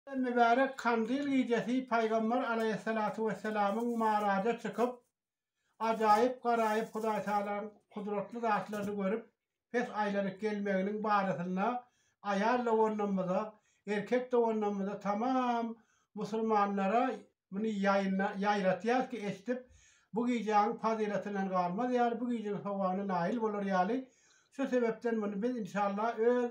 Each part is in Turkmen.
Mübärek Kandil gijesi Pygamber alaýhyssalatu wessalamyň Maraja çykyp, ajaýyp garaýyp Hudaý Tagalaň kudratly zatlaryny görüp pes aýlanyp gelmeginiň barasynda aýal doganlarymyza, erkek doganlarymyza tamam musulmanlara muny ýaýratýas ki eşdip bu gijäň fazylatyndan galmaz ýaly bu gijäň sowabyna naýyl bolar ýaly şu sebepden muny biz inşallah öz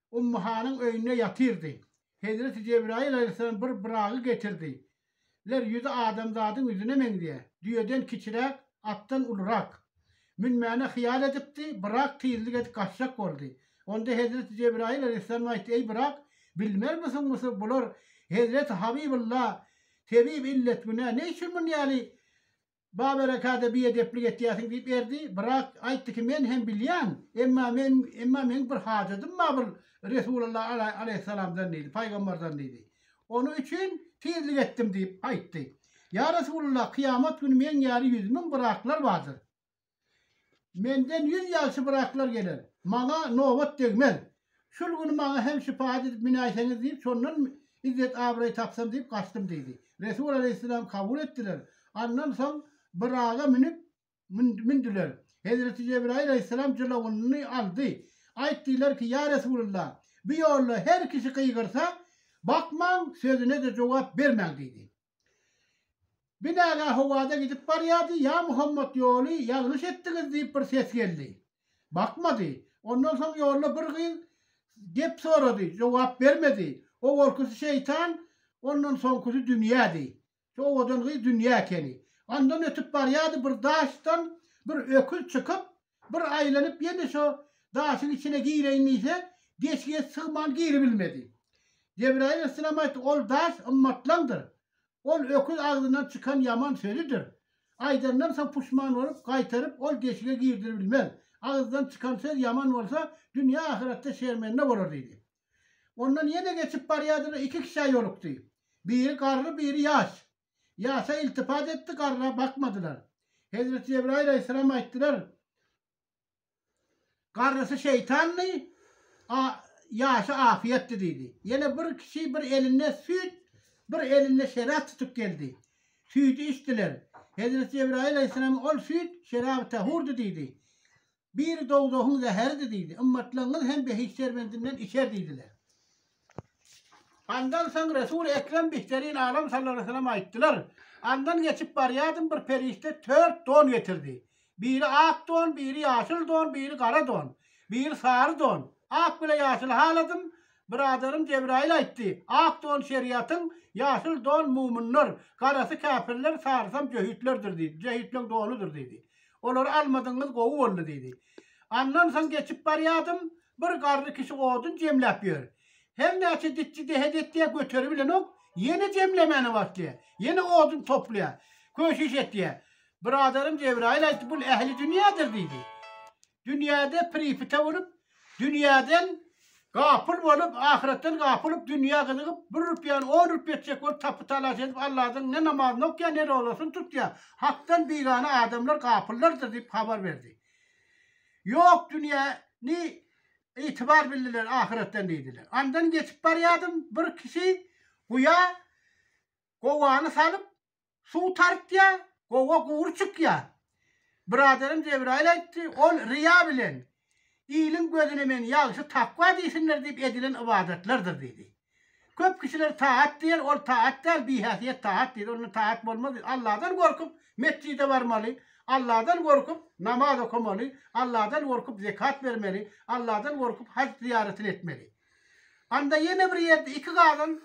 Ummyhanyň öýünde ýatyrdy. Hezreti Jebraýyl alaýhyssalam bir Buragy getirdi. Ler ýüzi adamzadyň ýüzüne meňzeýär. Düýeden kiçiräk, atdan ulurak. Münmäne hyýal edipdi, Burak tizlik edip gaçjak boldy. Onda Hezreti Jebraýyl alaýhyssalam aýtdy, Eý Burak, bilmermisiňmisi, bular Hezreti Habybulla, Tebib illet günä, ne üçin muny ýaly Ba berekada biedeplik etýäsiň diýip erdi, brak aýtdy ki men hem bilýän, emma men emma meň bir hajadym ba bul Resulalla ala alaýhyssalamdan diýdi, paýgambardan diýdi. Ony üçin tizlik etdim diýip aýtdy. Ýa Resulalla kyýamat güni meň ýaly ýüz müň braklar bardyr. Menden ýüz ýalçy braklar geler. Maňa nobat degmez. Şul güni maňa hem şypaýat edip minäýseňiz diýip, şondan izzet-abraý tapsam diýip gaçdym diýdi. Resul alaýhyssalam kabul etdiler. Andan soň braga münüp, mündiler. Hezreti Jebraýyl alaýhyssalam jylawyny aldy. Aýtdylar ki, ýa Resulallah, bu ýolda her kişi gygyrsa, bakmaň, sözüne-de jogap bermäň diýdi. Binagä howada gidip barýardy, Ýa Muhammet ýoly ýalňyş etdiňiz diýip bir ses geldi. Bakmady. Ondan soň ýolda bir gyz gep sorady, jogap bermedi. Owalkysy şeýtan, ondan soňkusy dünýädi. Şu owadan gyz dünýä ekeni. Ondan ötüp barýardy, bir daşdan bir öküz çykyp, Bir aýlanyp ýene şo daşyň içine gireýin diýse, deşige sygman giribilmedi. Jebraýyl yssalam aýtdy, Ol daş ymmatlaňdyr. Ol öküz agzyndan çykan ýaman sözüdir. Aýdandan soň puşman bolup, gaýtaryp ol deşige girdiribilmez. Agyzdan çykan söz ýaman bolsa, dünýä ahyratda şermende bolar diýdi. Ondan ýene geçip barýardylar, iki kişä ýolukdy. Biri garry, biri ýaş. Ýasa iltifat etdi, garra bakmadylar. Hezreti Jebraýyl aleýhissalam aýtdylar, Garrysy şeýtandy, ýasy afyýetdi diýdi. Ýene bir kişi bir elinde süýt, bir elinde şerap tutup geldi. Süýdi içdiler. Hezreti Jebraýyl aleýhissalam ol süýt şeraby tahurdy diýdi. Biri dowzahyň zäheridi diýdi. Ymmatlaryňyz hem behişt şerbendinden içer diýdiler. Andan soň Resul Ekrem Bihderin Alam sallalahüsselam aýtdylar, Andan geçip barýardym bir perişde tört don getirdi. Biri ak don, biri ýaşyl don, biri gara don, biri sary don. Ak bile ýaşyly haladym. Biradarym Jebraýyl aýtdy, Ak don şeriýatyň, ýaşyl don mumynlar, garasy käpirler, sarysam jöhitlerdir diýdi. Jöhitleň donudyr diýdi. Olary almadygyňyz gowy boldy diýdi. Andan soň geçip barýardym, bir garry kişi odun jemläp ýör. Her näçe ditji dehet etýär, göteribilenok, ýene jemlemäne başlaýar, ýene odun toplaýar, köşiş etýär. Biradarym Jebraýyl aýtdy, bul ähli dünýädir diýdi. dünýäde pripite bolup, dünýäden gapyl bolup, ahyretden gapyl bolup, dünýä gyzygyp, bir rupýany on rupýa etjek bolup, tapy-talaş edip, Alladan ne namazyny okýar, ne rozasyny tutýar. Hakdan bigana adamlar gapyllardyr diýip habar berdi. Ýok, dünýä ni itibar bildiler, ahyretden diýdiler. Andan geçip barýardym, bir kişi guýa gowany salyp, Suw tartýar, gowa gury çykýar. Byradarym Jebraýyl aýtdy, ol ryýa bilen, iliň gözüne men ýagşy takwa diýsinler diýip edilen ybadatlardyr diýdi. Köp kişiler taat diýer, ol taat däl, bihäsiýet taat diýdi, onda taat bolmaz diýdi. Allahdan gorkup, metjide barmaly, Allahdan gorkup, namaz okamaly, Allahdan gorkup, zekat bermeli, Allahdan gorkup, haj zyýaratyny etmeli. Anda ýene bir ýerde iki gazan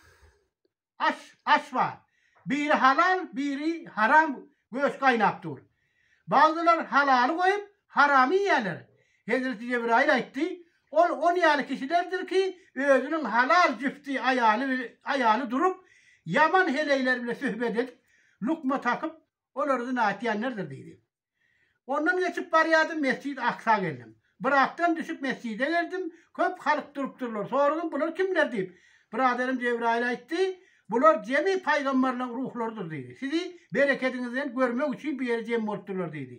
Aş, aş bar. Biri halal, biri haram göç gaýnap dur. Bagzylar halaly goýup, haramy iýýärler. Hezreti Jebraýyl aýtdy, Ol on ýaly kişilerdir ki, özüniň halal jüfti aýaly, aýaly durup, ýaman heleýler bile söhbet edip, lukma takyp, olar zyna etýänlerdir diýdi. Ondan geçip barýardym, Mesjid-i Aksa geldim. Bir atdan düşüp mesjide geldim, köp halk durup durlar. Soradym, bular kimler diýip. Biraderim Jebraýyl aýtdy, Bular jemi paýgamberleriň ruhlarydyr diýdi. Sizi berekediňizden görmek üçin bu ýere jem bolup durlar diýdi.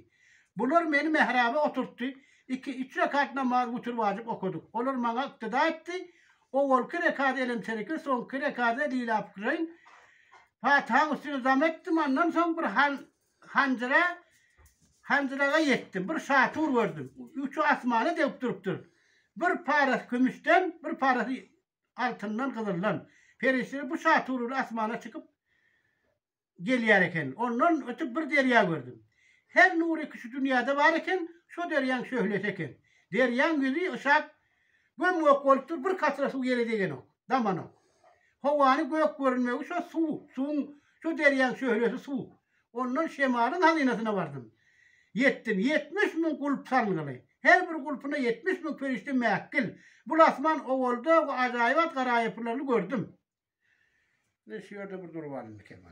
Bular meni mähraba oturtdy. Iki, üç rekat namaz wütür wajyp okadyk. Olar maňa yktyda etdi. Owalky rekady Elemtereke, soňky rekady Lilâfukreýn. Patyhaň üstüne dam etdim, andan soň bir han Hanjyra, hanjyraga ýetdim. Bir şatur gördüm. Uçy asmana degip durupdyr. Bir parasy kümüşden, bir parasy altyndan, gyzyldan. Perişdeler bu şatur bilen asmana çykyp gelýär eken. Ondan ötüp bir derýa gördüm. Her nury ki şu dünýäde bar eken, şo derýaň şöhlesi eken. Derýaň ýüzi yşak Göm-gök bolup dur, bir katra suw ýere degenok, damanok. Howany gök görünmegi şo suw, suwuň, şo derýaň şöhlesi suw. Ondan şemalyň hazynasyna bardym. Ýetdim, ýetmiş müň gulp salyngyly. Her bir gulpyna ýetmiş müň perişde mäkgil. Bul asman owalda we ajaýybat garaýapylaryny gördüm. Ine, şu ýerde bir durup alyndy Kemal.